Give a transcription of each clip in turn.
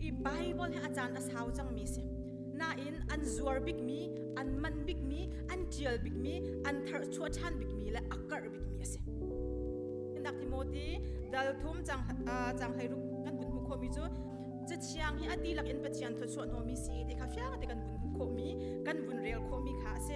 i Bible he a caan a sau cangmi si. Nain an zuar bikmi, an man bikmi, an ṭial bikmi, an tharchuah ṭhan bikmi le a karh bikmi a si. Nak Timothy dal thum cang cang hlei ruk kan vun hmu khomi cu Cathiang hi a ti lakin Pathian thawchuah nomi si ti kha fiang te kan vun hmu khomi, kan vun rel khomi kha a si.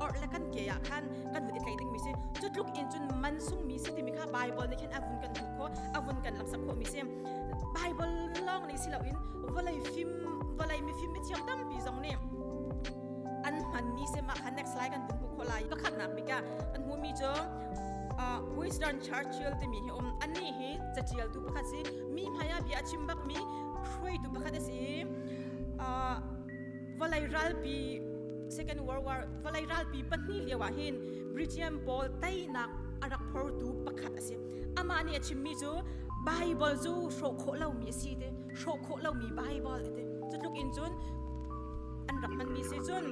or le kan ke ya khan kan hu i tlai ding mi si chu tluk in cun man sung mi si timi kha bible ni khin avun kan hu kho avun kan lam sap kho mi si bible long ni silo in volai fim volai mi fim mi thiam tampi zong ni an hman mi se ma khan next slide kan hun hu kho lai pakhat nak bika an hu mi chu Western Churchill timi hi um anni hi catial tu pakhat si mi hmaya bia chim bak mi khroi tu pakhat si vawlei ralpi second world war vawlei ralpi pahnih lio ah hin Britian pawl teinak a rak phortu pakhat a si amah nih a chimmi cu Bible cu hrawh khawh lomi a si te hrawh khawh lomi Bible a ti cu tluk in cun an rak hmanmi si cun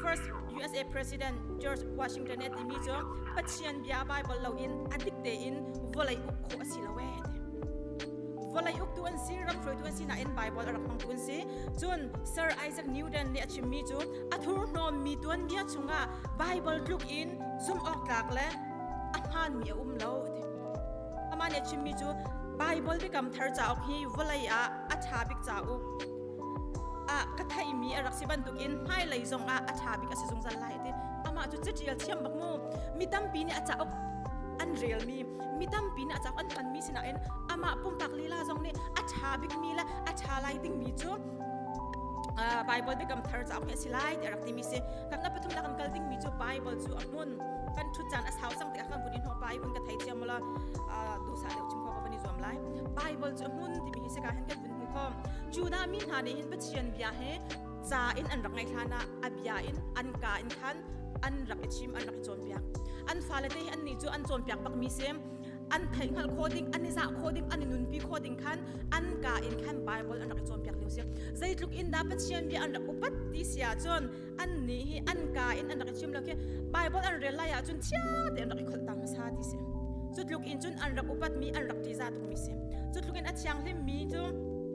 first USA President George Washington e timi cu Pathian bia Bible loin a dik tein vawlei uk khawh a si lo e vawlei uktu an si ram hruaitu an si nain Bible a rak hmangtu an si cun Sir Isaac Newton nih a chimmi cu a thurhnawm mi tuanbia chungah Bible tluk in zumhawktlak le a hmaanmi a um lo a ti amah nih a chimmi cu Bible biakam thar cauk hi vawlei ah a ṭha bik cauk ah ka theimi a rak si bantukin hmailei zongah a ṭha bik a si zungzal lai a ti amah cu catial thiam bak mu mi tampi nih a cauk an relmi mi tampi nih a cak an thanmi sinain amah pumpak lila zong nih a ṭha bikmi le a ṭha lai dingmi cu uh, Bible Biakam Thar cauk hi a si lai tiah rak timi si kan nga pathum la kan kal dingmi cu Bible cu a hmun kan ṭhut caan a sau cang tiah kan vun in hawpa i kan thei thiam la dusa deuh chung ko van i zuam lai Bible cu a hmun timi hi sika hen kan vun hmu ko Judah mi hna nih hin Pathian bia he ca in an rak ngaih hlan ah a bia in an ka in khan an rak i chim an rak i cawnpiak an fale te hi an nih cu an cawnpiak bakmi sem an thei hngal kho ding an i zah kho ding an i nunpi kho ding khan an ka in khan bible an rak i cawnpiak lio si zeitluk in dah pathian bia an rak upat ti sia cun an nih hi an ka in an rak i chim lo khi bible an rel lai ah cun chia te an rak i kholh ta hmasa ti si cutluk in cun an rak upatmi an rak ṭiza tukmi si cutluk in a thianghlim mi cu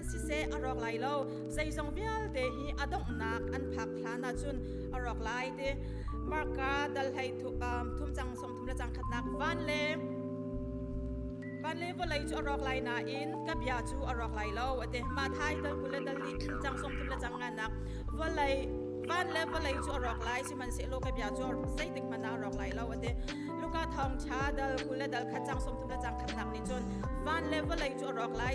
siseh a rawk lai lo zeizong vialte hi a donghnak an phak hlan ahcun a rawk lai ti marka dal hlei thum cang som thum le cang khatnak van le van le vawlei cu a rawk lai nain ka bia cu a rawk lai lo ate ma thai tal kule dal di cang som thum le cang nganak vawlei van le vawlei cu a rawk lai sihmanhsehlaw ka bia cu zeitik hmanh a rawk lai lo ate luka thong tha dal kule dal khat cang som thum le cang khatnak nih cun van le vawlei cu a rawk lai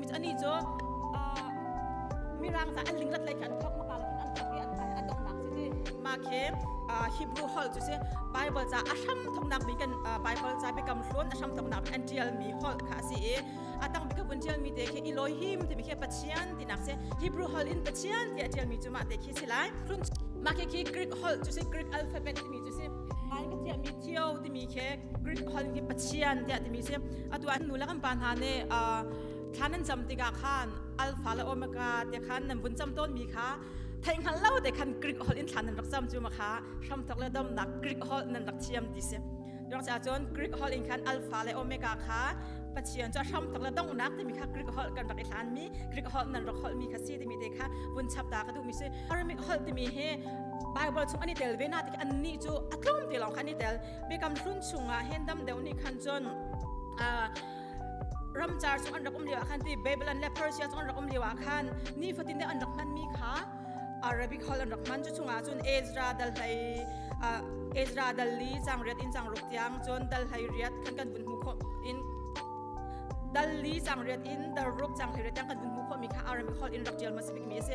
Mit ani cu mirang ta an linglat lei kha an thok mapa an thok i an dongnak si ma khi Hebrew hol cu si Bible ca a hram thoknak bi kan Bible ca biakam hlon a hram thoknak bi an tial mi hol kha a si i a tang bikap un tial mi te khi iloi him ti bi khi pachian tinak se Hebrew hol in pachian ti a tial mi cu ma te khi si lai ma khi khi Greek hol cu si Greek alphabet mi Ngai ka tiah mi cio timi khi Greek hal hi Pathian tiah timi si atu an nu le kan pa hna nih thlan an cam tikah khan alfa le omega te khan nan vun cam tawn mi kha theih hngal lo te khan Greek hol in thlan nan rak cam cu ma kha hramthok le domnak Greek hol nan rak thiam ti si Rak ca cun Greek hol in khan alfa le omega kha Pathian cu hramthok le donghnak timi kha Greek hol kan rak i hlan mi Greek hol nan rak hol mi kha si timi te kha vun chap ta ka duh mi si Aramic hol timi hi Bible chu ani tel ve na ti anni chu a tlawm te long khan i tel bikam hlun chunga hen dam deu ni khan chon a ramchar chu an rakum liwa khan ti Babylon le Persia chu an rakum liwa khan ni fatin de an rak man mi kha Arabic hall an rak man chu chunga chun Ezra dal hlai Ezra dal li chang riat in chang ruk tiang chon dal hlai riat khan kan vun mu kho in dal li chang riat in dal ruk chang hlai riat kan vun mu kho mi kha Arabic hall in rak tial ma sibik mi se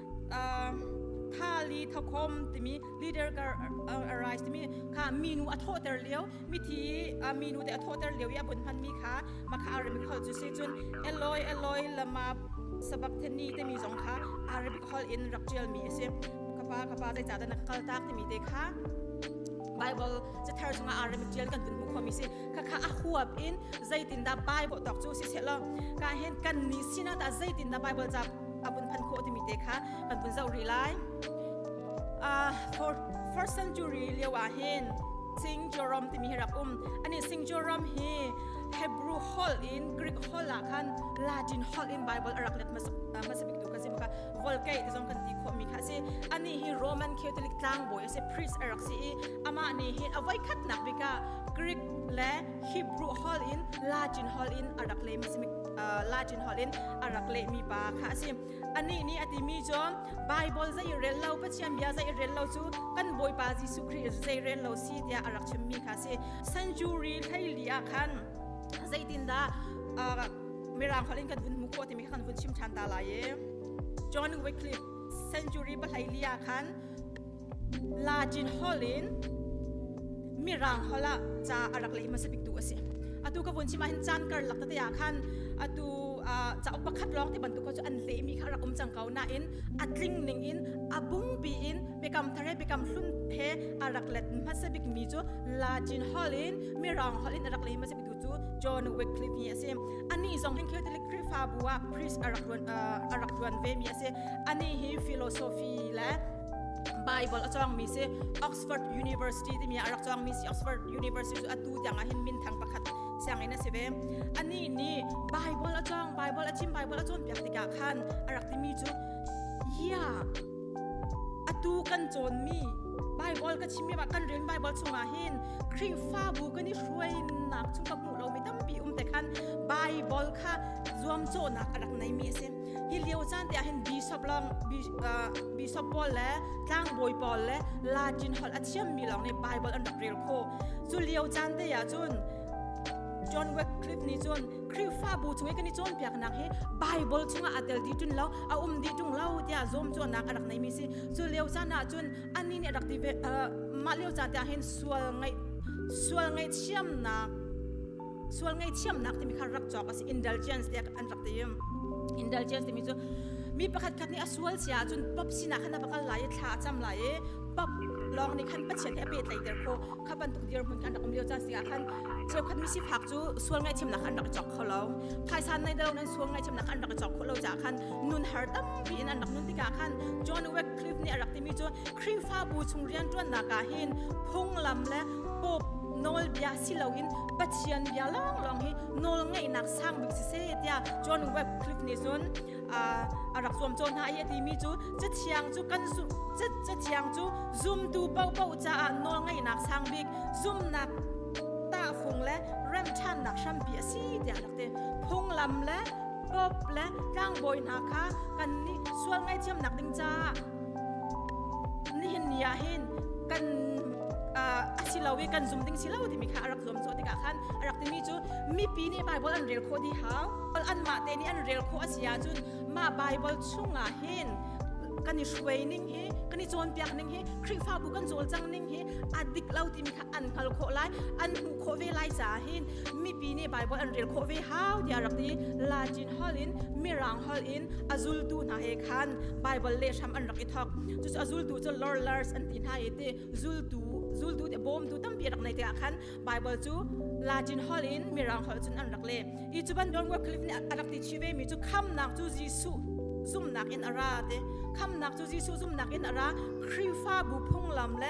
thali thokhom timi leader kar arise timi kha minu a thawhter lio mithi minu te a thawhter lio i a bun hmanmi kha makha arabic hol cu si cun eloi eloi lama sabakthani timi zong kha arabic hol in rak ṭialmi a si kapa kapa zeicah dah na ka kal tak timi te kha Bible cu thar chunga arabic ṭial kan tun hmu khomi si khakha a huap in zeitindah Bible tok cu si selo ka hen kan ni sina ta zeitindah Bible ca a bun phan khawh timi te kha kan pun zoh rih lai. Uh, for first century lio ah hin Singjawram timi hi rak um ani Singjawram hi Hebrew holh in Greek holh ah khan Latin holh in Bible arak let hmasa bik tu ka si maka Vulgate zong kan ti khawh mi kha si ani hi Roman Catholic tlangbawi asi priest arak si i ama ni hi avai khat nak bika Greek le Hebrew holh in Latin holh in arak le hmasa Latin holh in a rak lehmi pa kha a si. Anih nih a timi cu Baibal zei rel lo Pathian bia zei rel lo cu kan Bawipa Jesuh Khrih zei rel lo si tiah a rak chimmi kha a si. Century hleili ah khan zeitindah Mirang holh in kan vun hmuh khawh timi kha kan vun chim ṭhan ta lai i John Wycliffe century pahleili ah khan Latin holh in Mirang holh ah ca a rak leh hmasa biktu a si. Atu ka vun chim ahhin caan karlak tete ah khan atu uh, cauk pakhat lawng ti bantuk kho cu an lehmi kha rak um cang ko nain a tling ning in a bungbi in biakam thar he biakam hlun he a rak let hmasa bikmi cu Latin holh in Mirang holh in a rak leh hmasa biktu cu John Wycliffe hi a si. Ani zong hin Catholic Khrihfabu ah priest a rak tuan uh, a rak tuan vemi a si. Ani hi philosophy le Bible a cawngmi si Oxford University timi a rak cawngmi si Oxford University cu atu tiangah hin minthang pakhat sianginn a si ve anih nih Bible a cawng Bible a chim Bible a cawnpiak tikah khan a rak timi cu ia atu kan cawnmi Bible ka chimmi ba kan rel Bible chungah hin Khrihfabu kan i hruainak chung ka hmuh lomi tampi um te khan Bible kha zuamcawhnak a rak neimi a si hi lio caan te ahhin bishop long bishop paul le tlangbawi paul le latin holh a thiammi lawng nih bible an rak rel kho cu lio caan te ah cun john wycliffe nih cun khrihfabu chung i kan i cawnpiaknak hi bible chungah aa tel dih ṭun lo a um dih ṭung lo tiah zuamcawhnak a rak neimi si cu lio caan ah cun annih nih a rak ti ve mah lio caan te ahhin sual ngaih sual ngaihthiamnak sual ngaihthiamnak timi kha rak cawk a si indulgence te an rak ti indulgence timi cu mi pakhat khat nih a sual sia ahcun pop sinah khan a va kal lai i thla a cam lai i pop lawng nih khan pathian he a pehtlaih der kho kha bantuk dirhmun kan rak um lio caan sikah khan cheukhat misifak cu sual ngaihchimnak an rak cawk kho lo phaisa nei dalo nan sual ngaihchimnak an rak cawk kho lo caah khan nun har tampi in an rak nun tikah khan John Wycliffe nih a rak timi cu Khrihfabu chung rianṭuannak ah hin phunglam le Pope nawlbia si loin Pathian bia lawnglawng hi nawlngeihnak sang bik si se tiah John Wycliffe nih cun a rak zuam cawn hna i a timi cu cu thiang cu kan zumh cu thiang cu zumtu paohpaoh caah nawlngeihnak sang bik zumnak tahfung le rem ṭhannak hrampi a si tiah rak ti phunglam le pope le tlangbawi hna kha kan nih sual ngaihthiamnak ding caah nihin ni ah hin kan a si lo i kan zum ding si lo timi kha a rak zuam cawh tikah khan a rak timi cu mipi nih Baibal an rel khawh dih hau anmah te nih an rel khawh a si ahcun mah Baibal chungah hin kan i hruai ning hi kan i cawnpiak ning hi Khrihfabu kan cawl cang ning hi a dik lo timi kha an hngal khawh lai an hmuh khawh ve lai caah hin mipi nih Bible an rel khawh ve hau tiah rak ti Latin holh in Mirang holh in a zultu hna he khan Bible le hram an rak i thok cucu a zultu cu lorlars an ti hna i ti zultu zultu te bawmtu tampi rak nei te ah khan Bible cu Latin holh in Mirang holh cun an rak le i cu ban John Wycliffe nih a rak ti chi ve mi cu khamnak cu Jesuh zumnak in a ra te khamnak cu Jesuh zumnak in a ra Khrihfabu phunglam le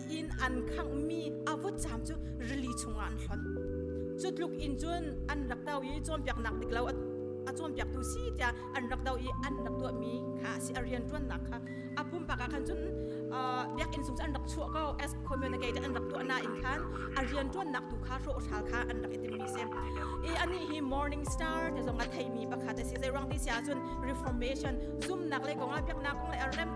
inn an khanghmi a vutcam cu rili chungah an hlonh. Cu tluk in cun an rak do i cawnpiaknak dik lo a cawnpiaktu si tiah an rak do i an rak tuahmi kha a si a rianṭuannak kha a pumpak ah khan cun biakinn sung cu an rak chuah ko as community tiah an rak tuah nain khan a rianṭuannak tu kha rawhral kha an rak i timmi si i anih hi morning star ti zong a theimi pakhat a si zeirang ti si ahcun reformation zumnak le kongah biaknak kong le a rem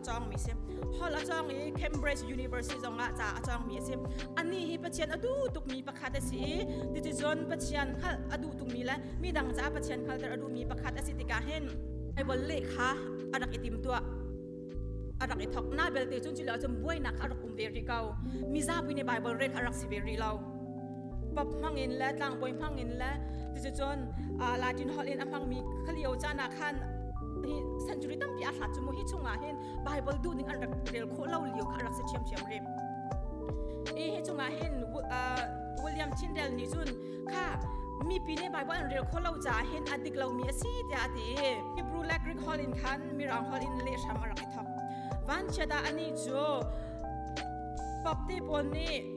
cawngmi si hall a cawng i Cambridge University zongah ca a cawngmi a si ani hi pathian a duh tukmi pakhat a si i titicun pathian hngalh a duh tukmi le midang ca pathian hngalter a duhmi pakhat a si tikah hin Bible lehkha a rak i tim tuah a rak i thok na belte cun culo cun buainak kha a rak um ve rih ko mizapi nih Bible rel a rak si ve rih lo pap hmangin le tlangbawi hmangin le cucun latin holh in a hmangmi khalio caan ah khan hi century tampi a hlat cu mu hi chungah hin bible duh ding an rak rel khawh lo lio kha an rak si ṭhiamṭhiam rim hi hi chungah hin william tyndale nih cun kha mipi nih bible an rel kho lo caah hin a dik lomi a si tiah a ti i hebrew la greek holh in khan mirang holh in leh hram a rak i thok vanchiat ah anih cu pap te pawl nih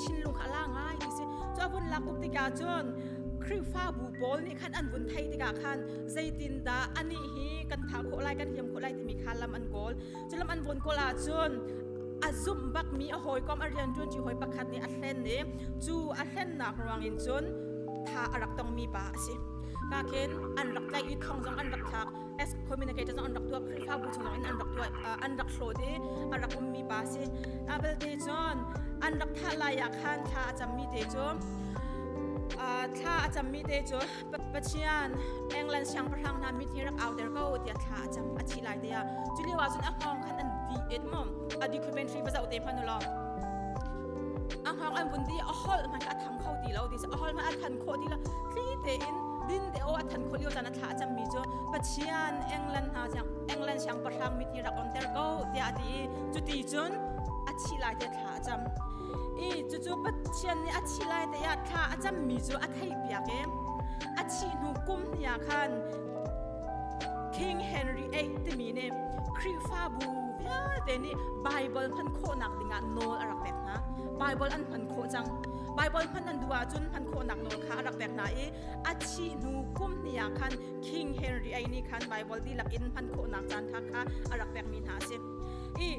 thinlung a la ngai ni si cu vun lak tuk tikah cun Khrihfabu pawl nih khan an vun theih tikah khan zeitindah anih hi kan thah khawh lai kan hiam khawh lai timi kha lam an kawl cu lam an vawn kawl ahcun a zumh bakmi a hawikom a rian ṭuanṭi hawi pakhat nih a hlen i cu a hlennak ruangin cun tha a rak tongmi pa a si ka khin an rak tlaih i thong zong an rak thlak ex communicator an rak tuah khrihfabu chung in an rak tuah an rak hlawt i a rak ummi pa si abelte cun an rak thah lai ah khan thla a cammi te cu thla a cammi te cu Pathian England siangpahrang hna mit hi rak au der ko tiah thla a cam a thi lai te ah cu lio ah cun a hngawng khan an di et mo a documentary pa zau te phanu lo a hngawng an vun di a hol hmanh a thang kho ti lo ti a hol hmanh a than khawh ti lo thli tein din te o a than kho lio chan a thla a cammi cu Pathian England hna siang England siangpahrang mit hi rak onter ko tiah a ti i cuti cun a thih lai te thla a cam i cucu Pathian nih a thih lai te ah thla a cammi cu a theihpiak i a thih hnu kum hnih ah khan King Henry VIII timi nih Khrihfabu vialte nih Baibal hman khawhnak dingah nawl a rak pek hna Baibal an hman khawh cang Baibal hman an duh ahcun hman khawhnak nawl kha a rak pek hna i a thih hnu kum ni ah khan King Henry ai nih khan Bible dihlak in hman khawhnak caan tha kha a rak pekmi hna a si i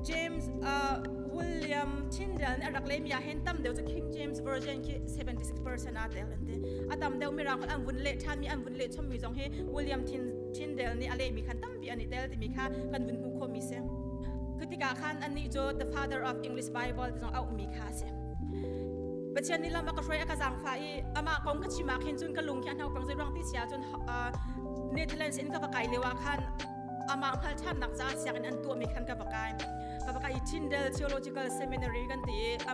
James uh, William Tyndale nih a rak leimi ah hen tam deuh cu King James Version khi 76% a tel an ti a tam deuh mi rang an vun leh than mi an vun leh chom mi zong hi William Tyndale nih a lehmi khan tam ti an i tel timi kha kan vun hmu khomi si cu tikah khan annih cu the father of english bible ti zong auhmi kha a si pathian nih lam a ka hruai a ka zaangfah i amah kong ka chim ah khin cun ka lung hi a hno pang zoi ruang ti sia cun netherlands in ka va kai leu ah khan amah hngalthannak caah siangin an tuahmi khan ka va kai ka va kai Tyndale Theological Seminary kan ti i a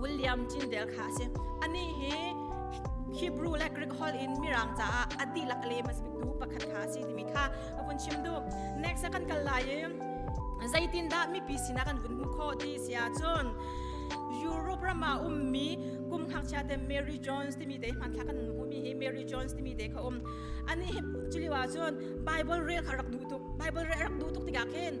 William Tyndale kha a si. Anih hi Hebrew le Greek holh in mirang caah a dihlak le masbiktu pakhat kha a si timi kha a vun chim duh. Next kan kal lai i zeitindah mipi sinah kan vun hmuh khawh ti si ahcun Europe ram ah ummi kum hngakchia te Mary Jones timi te hmanthlak kan hmuhmi hi Mary Jones timi te kha um ani hi culiwa cun Bible rel kha rak duh tuk Bible rel rak duh tuk tikah khin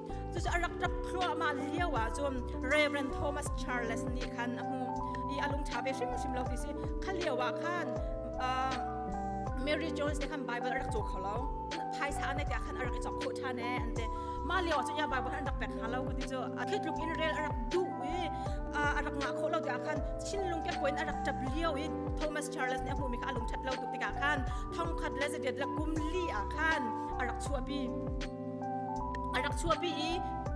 Cucu a rak ṭap thluahmah lio ah cun Reverend Thomas Charles nih khan a hmuh i a lungṭha ve hrimhrim lo ti si kha lio ah khan uh, Mary Jones nih khan Bible a rak caw kho lo phaisa an tiah khan a rak i chok khawh ṭhan eh an ti mah lio ah cun ya Bible khan an rak pek hna lo ku ti cu a khitluk in rel a rak duh i uh, a rak ngah khawh lo tiah khan Chinlung ke koin a rak ṭap lio i Thomas Charles nih a hmuhmi kha a lungṭhat lo tuk tikah khan thongkhat le zatiat le kum li ah khan a rak chuahpi A rak chuahpi i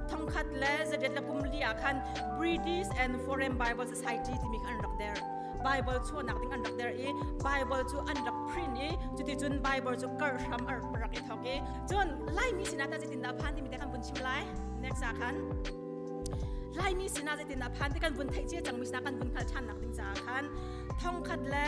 thongkhat le zadet le pum li ah khan British and Foreign Bible Society timi kha an rak der. Bible chuahnak ding an rak der i Bible cu an rak print i cuticun Bible cu karh hram a rak i thawk i cun Laimi sinah tah zeitindah phan timi te kan vun chim lai. Next ah khan Laimi sinah zeitindah phan ti kan vun theih cia cangmi sinah kan vun hngalh ṭhannak ding caah khan thongkhat le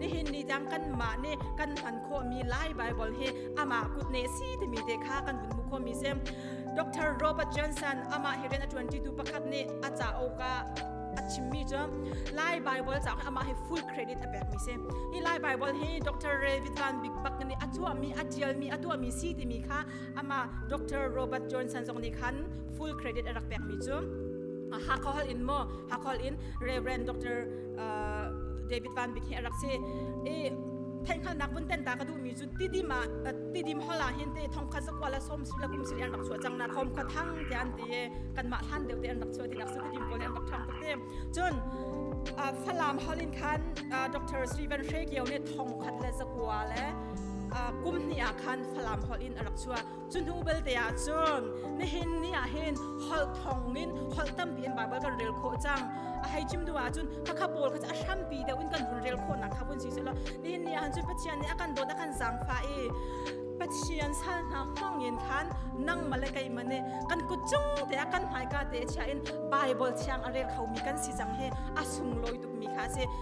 nihin ni cang kanmah nih kan hman khawhmi lai bible hi amah kut ne si timi te kha kan hun hmu khomi si dr robert johnson amah hi rian a tuantitu pakhat nih a cauk a a chimmi cu lai bible cauk amah hi full credit a pekmi si hi lai bible hi dr david van big bak nih a tuahmi a tialmi a tuahmi si timi kha ama dr robert johnson zong nih khan full credit a rak pekmi cu a hakhol in mo hakhol in reverend dr David Van Bik hi a rak si i theihhngalnak vun ten ta ka duhmi cu tidim ah tidim hol ah hin te thongkhat zakua la som su la kum siri an rak chuah cang na khom khua thang te an ti kan mah hlan deuh te an rak chuah tinak su tidim pawl an rak ṭhang tuk te cun Falam hol in khan Dr. Steven Shekio nih thongkhat le zakua le kum hnih ah khan Falam hol in a rak chuah Cu hnu belte ah cun nihin ni ah hin holh thawng in holh tampi in Baibal kan rel khawh cang. A hei chim duh ahcun khakha pawl kha cu a hrampi deuh in kan hun rel khawhnak kha vun si sehlaw nihin ni ah cun Pathian nih a kan dawt a kan zaangfah i Pathian sal hna hmang in khan nangmah le keimah nih kan kut cung te ah kan hmaika te chiah in Baibal thiang a rel khomi kan si cang hi a sunglawi tukmi kha a si.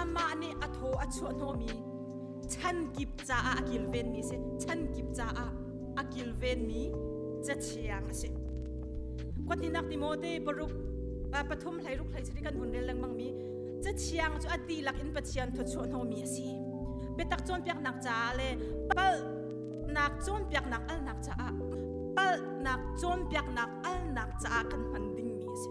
amah nih a thaw a chuah hnawmi chan kip caah a kilvenmi a si chan kip caah a kilvenmi cathiang a si kotninak timote paruk pathum hleiruk hleisari kan hun rel lengmangmi cathiang cu a tilak in pathian thawchuah hnawmi a si biatak cawnpiaknak caah le palhnak cawnpiaknak alnak caah palhnak cawnpiaknak alnak caah kan hman dingmi a si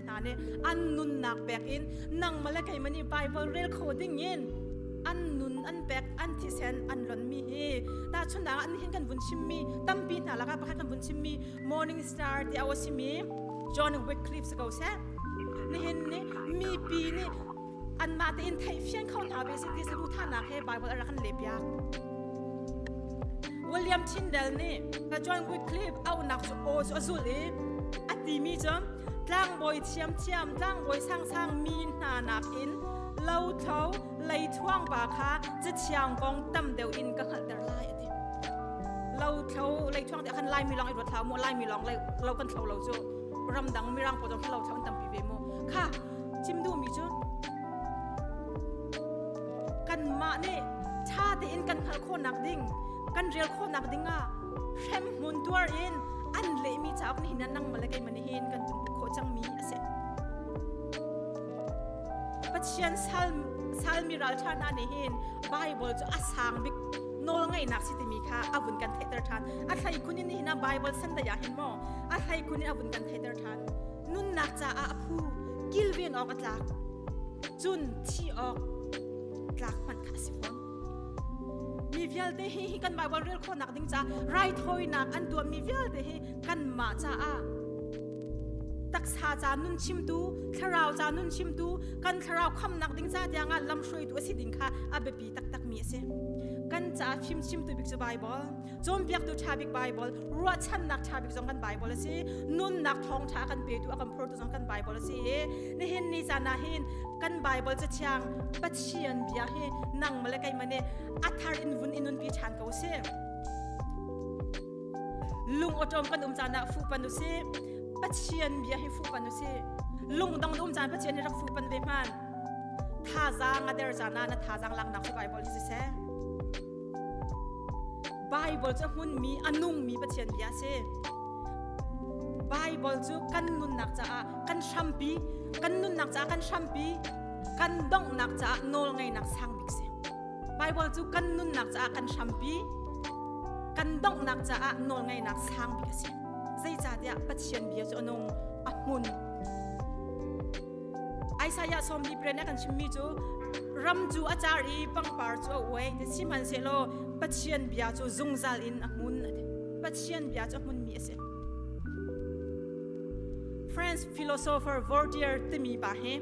hna nih an nunnak pek in nangmah le keimah nih Baibal rel kho ding in an nun an pek an thisen an ronmi hi tahchunnak ah nihin kan vun chimmi tampi hna lakah pakhat kan vun chimmi Morning Star ti a simi John Wycliffe si ko seh nihin nih mipi nih anmah tein theihfian kho hna ve si ti sabu thanak he Baibal a rak kan lehpiak William Tyndale nih John Wycliffe aunak cu aw cu a zul i a timi cu tlangbawi thiamthiam tlangbawi sangsang mi hna nakin lothlo leithuangpa kha cathiang kong tam deuh in ka hngalhter lai a ti lothlo leithuang ti khan laimi lawng i ruat hlau mu laimi lawng lo kan thlo lo cu ramdang mirang pawl zong lo thlo tampi ve mu kha chim duhmi cu kanmah nih ṭha tein kan hngalh khawh nak ding kan rel khawh nak ding ah hremhmun tuar in an lehmi cauk nih nan nang male keimah nihin kan tum khawh cangmi a si. Pathian sal salmi ralṭha hna nih hin Bible cu a sang bik nawl ngainak si timi kha a vun kan theihter ṭhan. A thlei khun in hinan Bible sandai ah hin maw a thlei khun in a vun kan theihter ṭhan. Nunnak caah a phu kilveng awk a tlak. Cun thi awk tlak hmanh kha a si fawn. mi vialte hi hi kan Bible rel khawnak ding caah raithawinak an tuahmi vialte hi kan mah caah taksa ca nun chimtu thlarau ca nun chimtu kan thlarau khamnak ding ca tiang ah lamhruaitu a si ding kha a biapi taktakmi a si kan ca fim chimtu bik cu Bible cawnpiaktu ṭha bik Baibal ruahchannak ṭha bik zong kan Baibal a si nunnak ṭhawngṭha kan petu a kan phurtu zong kan Baibal a si i nihin ni caan ah hin kan Baibal cu thiang Pathian bia hi nang male keimah nih a thar in vun in nunpi ṭhan ko sih lung awṭawm kan um caan ah fuhpan u sih Pathian bia hi fuhpan u sih lungdong um caan Pathian hi rak fuhpan ve hman thazaang a der caan ah na thazaang laknak hi Baibal si seh Baibal cu a hmunmi, a nungmi Pathian bia a si. Baibal cu kan nunnak caah kan hrampi, kan nunnak caah kan hrampi, kan donghnak caah nawlngeinak sang bik si. Baibal cu kan nunnak caah kan hrampi, kan donghnak caah nawlngeinak sang bik a si. Zeicahtiah Pathian bia cu a nung, a hmun. Isaiah sawmli pren a kan chimmi cu ram cu a car i pangpar cu a uai ti sihmanhsehlaw Pathian bia cu zungzal in a hmun a ti. Pathian bia cu a hmunmi a si. French philosopher Voltaire timi pa hi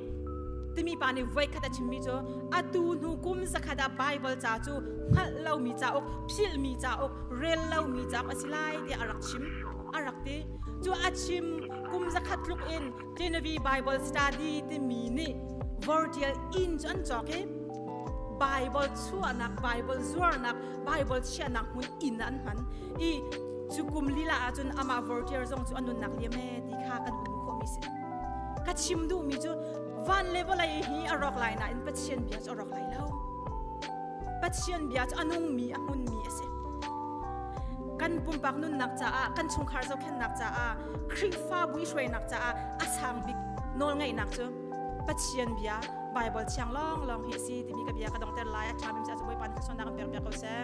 timi pa nih voikhat a chimmi cu atu hnu kum zakhat ah Baibal ca cu hngalh lomi cauk, philhmi cauk, rel lomi cauk a si lai tiah a rak chim. A rak ti. Cu a chim kum zakhat tluk in Genevieve Bible Study timi nih Virgil inn cu an cawk i Bible chuahnak, Bible zuarnak, Bible chiahnak hmun inn ah an hman i cu kum lila ahcun amah Virgil zong cu a nunnak liam ee ti kha kan hmuh khawhmi si. Ka chim duhmi cu van le vawlei hi a rawk lai nain Pathian bia cu a rawk lai lo. Pathian bia cu a nungmi a hmunmi a si. Kan pumpak nunnak caah, kan chungkhar zohkhenhnak caah, Khrihfabu i hruainak caah a sang bik nawlngeihnak cu Pathian bia Baibal thiang lawnglawng hi a si timi ka bia ka dongter lai. A ṭha bim caah Bawipa nih thluachuahnak in biak biak ko seh.